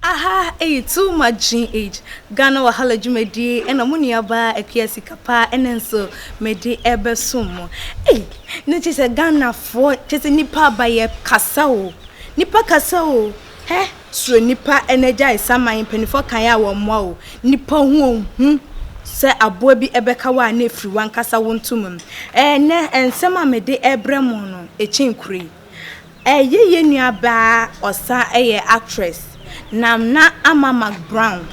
Aha ɛyɛ too much gene age Ghana wahala dwumadie ɛna mo nua baa akua sika paa ɛna nso mede ɛbɛ som mo ei na kyɛ sɛ Ghana foɔ kyɛ sɛ nipa aba yɛ kasa o nipa kasa o hɛ. Soro nipa na gyae saman mpaninfoɔ kan a wɔn mmoa wo nipa ho ɔhu sɛ aboa bi bɛka wo a na ɛfiri wankasa wo nto mum ɛnɛ nsɛm a me de ɛbrɛ mo no ɛkyɛn kuro yi ɛyɛ yɛ nua baa ɔsa ɛyɛ actress Namna Ama Mac Brown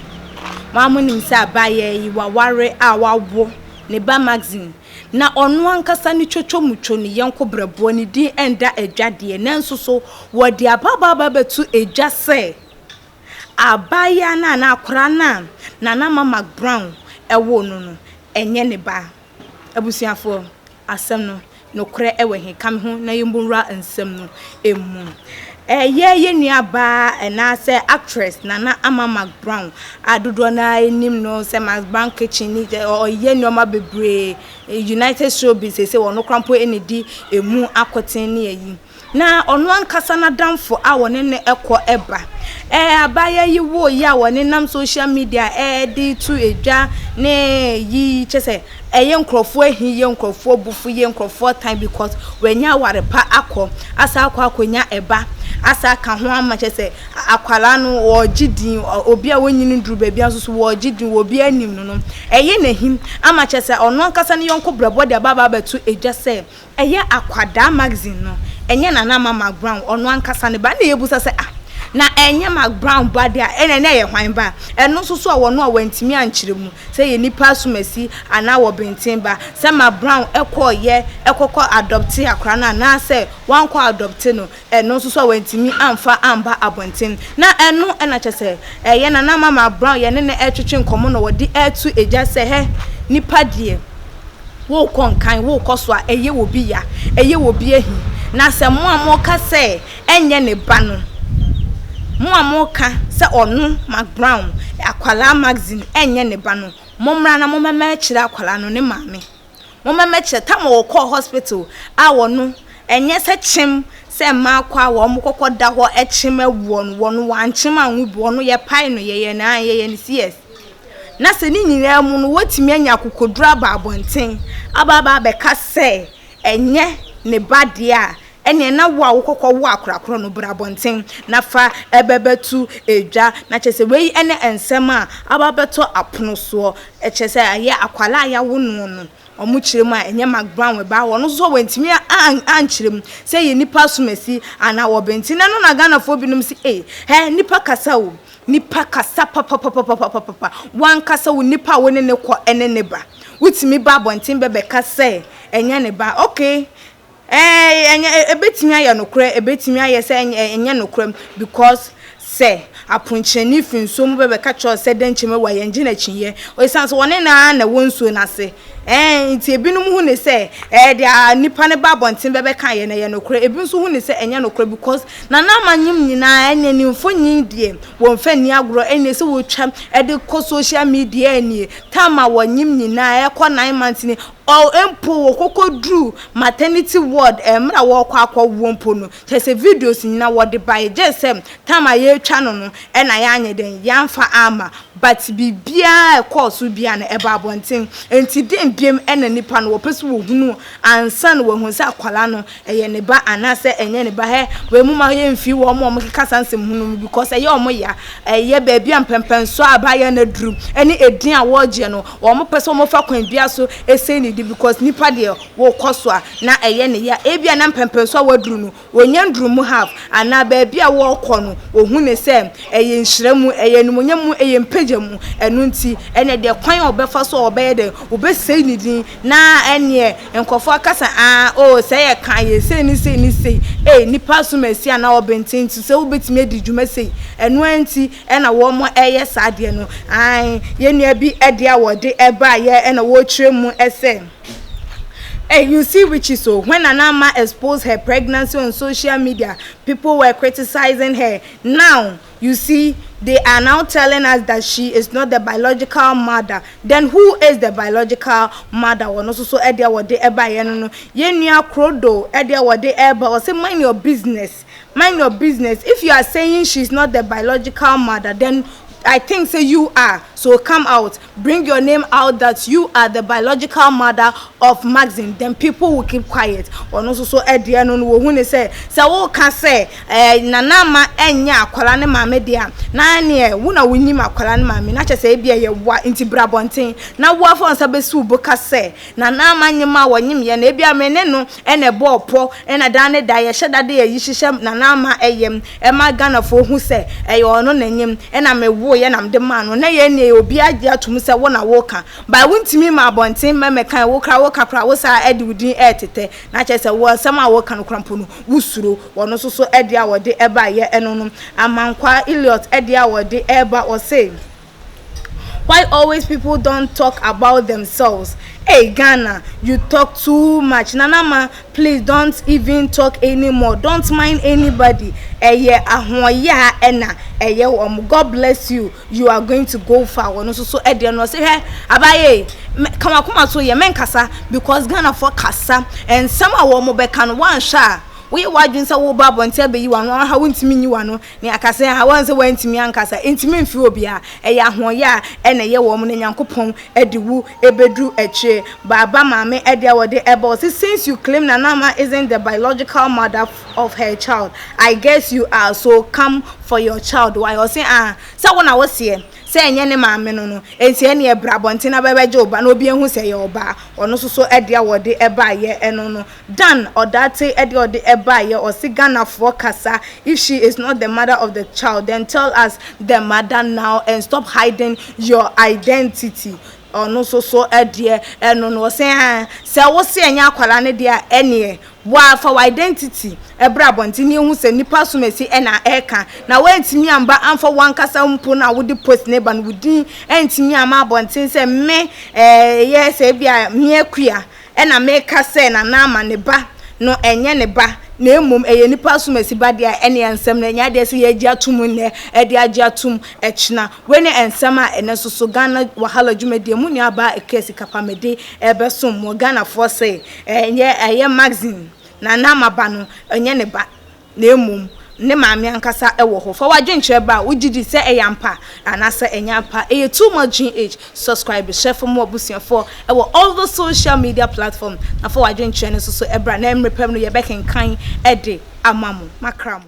mo a mo nim sɛ abaa yɛ yi waware a wawo ne ba Maxine Na ɔno ankasa ne twotwomutwo, ne yɔnko berɛboɔ, ne din ɛnda adwa deɛ, nanso so wɔde ababaa ba bɛto dwa sɛ abaayewa no anaa akwadaa no a Nana Ma McBrown woo no no, ɛnyɛ ne ba. Abusuafoɔ, asɛm no, nokorɛ wɔ he? Ka me ho na yɛmmɔ nwura nsɛm no mu. Ɛyɛ yɛn nuabaa anaasɛ actress Nana Ama McBrown a dodoɔ no ara nim no sɛ Max Brown Kitchen ni sɛ ɔyɛ nneɛma bebree United Showbiz seesei ɔno koraa mpo na ɛdi ɛmu akoten ne ayi na ɔno ankasa n'adamfo a wɔne no kɔ ba abaayewa yi woo yi a wɔnenam social media de to dwa ne yi kyerɛ sɛ ɛyɛ nkorɔfoɔ ahi yɛ nkorɔfoɔ abufu yɛ nkorɔfoɔ tan because wanya aware pa akɔ asan akɔ akɔnya ɛba asan aka ho ama kyɛ sɛ akwaraa no wɔregye din obi a wɔnyi no duru baabi nso so wɔregye din obi anim no no ɛyɛ n'ahim ama kyɛ sɛ ɔno ankasa ne yɔnko brɛbɔ de aba aba abɛto edwa sɛ Ɛyɛ akwadaa magazine no, ɛnyɛ Nana mma Mark Brown, ɔno ankasa ne ba. Ɛnna yɛbisa sɛ, Ah, na ɛnyɛ Mark Brown ba de a, ɛnna na ɛyɛ hwan ba? Ɛno nso so a wɔn a wɔantumi ankyerɛ mu sɛ ɛyɛ nnipa asomasi anaa wɔbenten ba, sɛ Mark Brown kɔeɛ kɔkɔ adɔptee akwadaa no anaasɛ wankɔ adɔpte no, Ɛno nso so a wantumi amfa amba abɔnten. Na ɛno na kyerɛ sɛ ɛyɛ Nana Mama Brown yɛne no retwetwe nkɔmmɔ na wɔde reto gya sɛ hɛ nipa deɛ worekɔ nkan, worekɔ so a ɛyɛ obi ya, ɛyɛ obi ahi. Na sɛ mo a moreka sɛ ɛnyɛ ne ba no, mo a moreka sɛ ɔno Mac Brown, akwadaa Maxine ɛnyɛ ne ba no, mommra na mommɛma akyire akwadaa no ne maame. Momma mɛkyerɛ, Tama wɔkɔɔ hospital a wɔno ɛnyɛ sɛ kyem sɛ mmaa kɔ a wɔn kɔkɔ da hɔ ɛkyem ɛwoɔ no wɔno wɔankyem anwo bi wɔno yɛpae no yɛyɛ no ae yɛyɛ no CS na sɛ ne nyinaa mu no wɔtumi anya akokoduro aba abɔnten aba aba abɛka sɛ ɛnyɛ ne ba deɛ a Ɛnneɛ na wo a wokɔkɔ wo akorakora no bra abɔnten na fa bɛbɛto dwa. Na kyerɛ sɛ wei ne nsɛm a aba abɛtɔ apono soɔ. Kyerɛ sɛ ɛyɛ akwadaa a yɛawo noɔ no wɔn kyerɛ mu a ɛnyɛ Mark Brown wɔ baa hɔ no nso wɔantumi ankyerɛ mu sɛ ɛyɛ nnipa asomasi anaa wɔbɛ nti. Na ɛno na Ghanafoɔ binom se ei hɛ nnipa kasa o, nnipa kasa papapapapapapa. W'ankasa wo nnipa a wo ne no kɔ ne ne ba wotumi ba abɔnten bɛbɛka sɛ ɛnyɛ ne ba okay. Ɛɛ, ɛnyɛ, ɛbɛtumi ayɛ nokorɛ, ɛbɛtumi ayɛ sɛ ɛnyɛ nokorɛ, because sɛ aponkyerɛni firi nsuo mu ba bɛka kyerɛ wo sɛ dɛn nkyɛn mu awuo a, yɛngye no akyinnyeɛ, ɛsiane sɛ wɔne no ara na ɛwɔ nsuo no ase, ɛɛ, nti ebinom hu no sɛ, ɛɛ, deɛ nipa no ba abɔnten bɛbɛkaeɛ no, ɛyɛ nokorɛ, ebi nso hu no sɛ ɛnyɛ nokorɛ, because Nana Amanyem nyinaa, ɛnneɛ ne mfoni deɛ, wɔmfa nni agorɔ, ɛnneɛ sɛ wɔtwa de kɔ social media nie, time a wɔnyem nyinaa, ɛkɔ nine months nie, Ɔɔ mpo wɔkɔkɔ duruu maternity ward ɛɛ mmerɛ a wɔɔkɔ akɔ woɔ mpo no kyɛrɛ sɛ videos nyina wɔde baeɛ gyɛɛ sɛ time a yɛɛtwa no no ɛna yɛanyɛ dɛn yɛamfa amma but biribiara a ɛkɔɔ so biara no ɛbaa abɔnten nti dɛn biom ɛna nipa no wɔpɛ sɛ wɔhunu ansa na wɔahunu sɛ akwadaa no Ɛyɛ ne ba anaa sɛ ɛnyɛ ne ba hɛ wei mo ma yɛ nfii wɔ ɔmo ɔmo keka saa nsɛm ho no mu because ɛyɛ ɔmo ya ɛyɛ baabi a mpɛmpɛnso a aba yɛ na duru ɛne ɛdin a wɔ gyeɛ no wɔ ɔmo pɛ sɛ ɔmo fa kwan bia so ɛsɛi ne din because nipa deɛ wɔ kɔ so a na ɛyɛ ne ya ɛbia na mpɛmpɛnso a wɔ duru no wɔ nya nduru mu half anaa baabi a wɔ kɔ no wɔ hu ne sɛ ɛyɛ nhyira mu ɛyɛ animonyam mu ɛyɛ mpagya mu ɛno nti ɛnɛ deɛ kwan a ɔbɛ fa so a ɔbɛ yɛ dɛn ɔbɛ sɛi ne din. Na ɛneɛ nkorɔfoɔ akasa aa oo sɛ yɛ ka yɛ sei ne sei ne sei ei nipa asom asi anaa ɔbenten nti sɛ wobɛtumi adi dwuma sei ɛno aa nti ɛna wɔn ɛyɛ saa adeɛ no aane yɛ nua bi ɛdeɛ a wɔde ɛbaeɛ ɛna wɔkyerɛ mu ɛsɛ ei you see witches oo when Nana ma expose her pregnancy on social media people were criticizing her now You see, they are now telling us that she is not the biological mother, then who is the biological mother? Ɔno nso so ɛdeɛ wɔde ɛbaeɛ no no, yɛn nua Krodo ɛdeɛ wɔde ɛreba, ɔse mind your business, mind your business, if you are saying she is not the biological mother, then I think say you are, so come out, Bring your name out that you are the biological mother of Maxine then people will keep quiet ɔno nso so ɛdeɛ no no wɔhu ne sɛ sɛ woka sɛ eh, nana ama ɛnyɛ akwara ne maame deɛ a na neɛ wo na wonim akwara ne maame na kyɛ sɛ ebi ɛyɛ woa nti bra bɔnten na woafa nsa bɛsiw bo ka sɛ nana ama nyem a wɔnyem yɛ na ebi a me ne no na ɛbɔɔ pɔ na daa ne da yɛhyɛ da de ayi hyehyɛ Nana Ama yam ma Ghanafoɔ hu sɛ ɛyɛ ɔno na nyem na me woeɛ na mede maa no na yɛn nua yi obiara gye atom sɛ wo na woka but wontumi mma abɔnten mmɛmɛkan wo koraa woka koraa wo saa de wo din retetɛ na kyerɛ sɛ wo nsɛm a woka no koraa mpo no wo suro wɔn nso so deɛ a wɔde baeɛ no no Amankwaa Elliot deɛ a wɔde reba ɔse Why always people don't talk about themselves ei Ghana you talk too much Nana ma please don't even talk anymore don't mind anybody ɛyɛ ahoɔyaa ɛna ɛyɛ wɔn God bless you you are going to go far wɔn nso so ɛdeɛ no ɔse hwɛ abaye ka wakoma so yɛ mɛnkasa because Ghana fo kasa nsɛm a wɔn bɛka no wɔanhwɛ a woyɛ w'adwene sɛ woba abɔnten abɛyi w'ano aha wontumi nyi w'ano Ne akasɛɛ a wɔn se wɔantumi ankasa ntumi mfiri obiara, ɛyɛ ahoɔyɛ a ɛna ɛyɛ wɔn na Nyankopɔn de wu bɛduru akyire. Baaba maame deɛ wɔde ba ɔse since you claim Nanama isn't the biological mother of her child, I guess you are so come for your child why? Ɔse aah sɛ wo na wo seɛ sɛ ɛnyɛ ne maame no no nti ɛneɛ bra abɔnten na bɛbɛgye wo ba na obi ahu sɛ ɛyɛ ɔbaa. Ɔno nso so deɛ wɔde baeɛ no no. Dan ɔdaatse de ɔde baeɛ ɔse Ghanafoɔ kasa if she is not the mother of the child then tell us the mother now and stop hiding your identity ɔno nso so deɛ ɛno no ɔse aa sɛ wo se ɛnyɛ akwadaa no deɛ a ɛneɛ waa fa wɔ identity ɛbra abɔnten ne yɛhu sɛ nipa asomasi ɛna ɛka na woantumi amba amfa wankasa mpo no a wode post ne ba no wo din antumi ama abɔnten sɛ me ɛyɛ sɛ bi a meɛ kua Ɛnna meka sɛ, Na Naaman ne ba no nyɛ ne ba, na mmom ɛyɛ nnipa asomasi ba deɛ a, ɛnneɛ nsɛm no nyɛ adeɛ a ɛsɛ sɛ yɛgye atom nnɛ de agye atom akyina. Wei ne nsɛm a ɛnnɛ nso so Ghana Wahala dwumadie mu nuabaa Akua Sika pa mede rebɛsom mo. Ghanafoɔ se, Ɛyɛ magazine, Na Naaman ba no nyɛ ne ba. na mmom ne maame ankasa wɔ hɔ. Fa w'adwenkyerɛ bra a wogye di sɛ ɛyɛ ampa anaasɛ ɛnyɛ ampa. Ɛyɛ too much GH! Subscribe, hyɛ fam ma w'abusuafoɔ wɔ all the social media platforms, na fa w'adwenkyerɛ no nso so bra na mmerɛ pɛ mu no yɛbɛkenkan de ama mo. Makra mo.